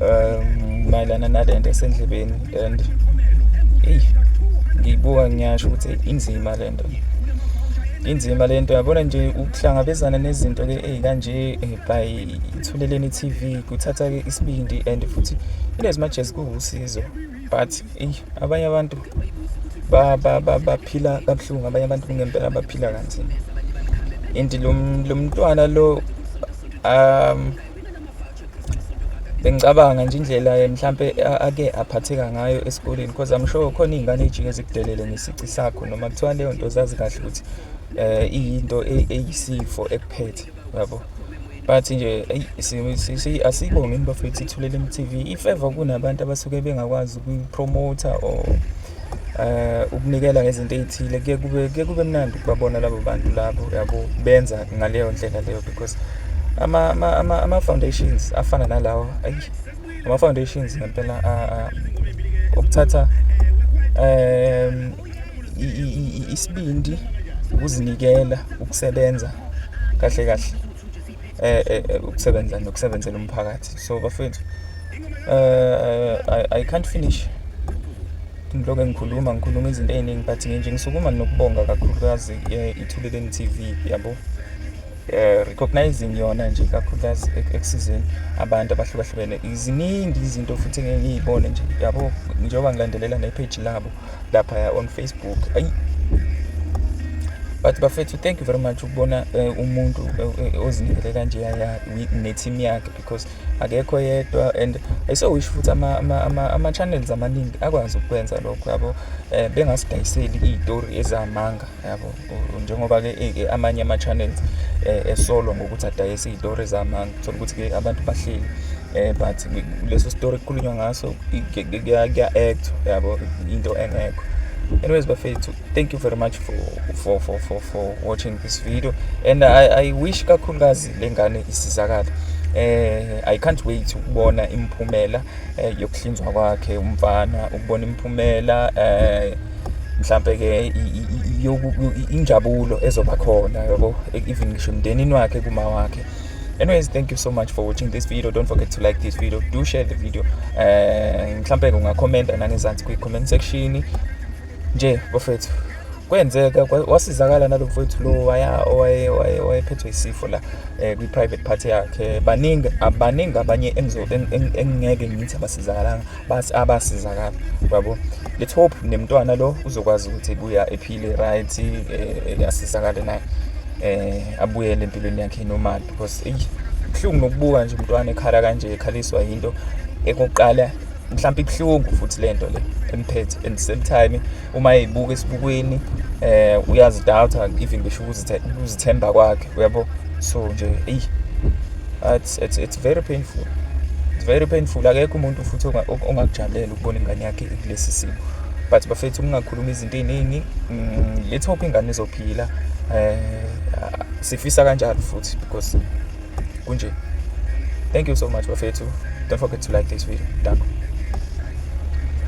um mayelana nale nto esendlebeni and eyi ngiyibuka ngiyasho ukuthi inzima le nto inzima le nto yabona nje ukuhlangabezana nezinto-ke ey'kanje eh, by ithuleleni i-tv kuthatha-ke isibindi and futhi inezimajezi kuwusizo but eyi abanye abantu baphila kabuhlungu abanye abantu kungempela baphila kanzima and lo mntwana lo um bengicabanga nje indlela eh, mhlampe ake aphatheka ngayo esikoleni because I'm sure khona izingane ejike zikudelele ngesici sakho noma kuthiwa leyo nto zazi kahle ukuthi eh iyinto e-, eyisifo ekuphethe yabo but nje eyi asibonge into bafethu ithulela eMTV if ever kunabantu abasuke bengakwazi ukuyipromoter or uh, ukunikela ngezinto ey'thile kuye kube kuye kube mnandi ukubabona labo bantu labo yabo benza ngaleyo ndlela leyo because ama-foundations ama, ama, ama afana nalawo ayi ama-foundations ngempela ukuthatha um isibindi ukuzinikela ukusebenza kahle kahle eh, eh, eh, ukusebenza nokusebenzela umphakathi so bafethu uh, I, I can't finish ngiloke ngikhuluma ngikhuluma izinto ey'ningi but nginje ngisukuma nokubonga kakhulukazi ithuleleni t v yabo um recognizing yona nje kakhulukazi ekusizeni abantu abahlukahlukene ziningi izinto futhi engeke ngiyibone nje yabo njengoba ngilandelela nepage labo laphaya on facebook ayi but bafethu thank you very much ukubona uh, umuntu uh, ozinikele kanje ne-team yakhe because akekho yedwa and ayisowisho futhi ama-channels amaningi akwazi ukukwenza lokho yabo um bengasidayiseli iy'tori ezamanga yabo njengoba-ke eh, amanye ama-channels eh, esolwa ngokuthi adayise iy'tori zamanga thola ukuthi-ke abantu bahleli um but leso story kukhulunywa ngaso kuya-actwa yabo into engekho anyways bafethu thank you very much for, for, for, for, for watching this video and i, I wish kakhulukazi le ngane isizakale eh i can't wait ukubona imphumela eh, yokuhlinzwa kwakhe umfana ukubona imphumela eh mhlampe ke injabulo ezoba khona yabo even ngisho emndenini wakhe kuma wakhe anyways thank you so much for watching this video don't forget to like this video do share the video eh, mhlampe ungakhomenta nangezansi kwi-comment section nje bafethu kwenzeka wasizakala nalo mfowethu lo wayephethwe isifo la um kwi-private party yakhe baningi abaningi abanye engingeke ngithi abasizakalanga basi abasizakala yabo let's hope nemntwana lo uzokwazi ukuthi buya ephile right eh, asizakale naye eh abuyele empilweni yakhe normal because eyi kuhlungu nokubuka nje umntwana ekhala kanje ekhaliswa yinto ekokuqala mhlawumbe ibuhlungu futhi lento le emphethe and same time uma eyibuka esibukweni eh uyazidoubt even ngisho ukuzithemba kwakhe uyabo so nje eyi it's it's very painful it's very painful akekho umuntu futhi ongakujabulela ukubona ingane yakhe kulesi simo but bafethu kungakhuluma izinto eziningi mm, let's hope ingane izophila eh sifisa kanjalo futhi because kunje thank you so much bafethu don't forget to like this video danko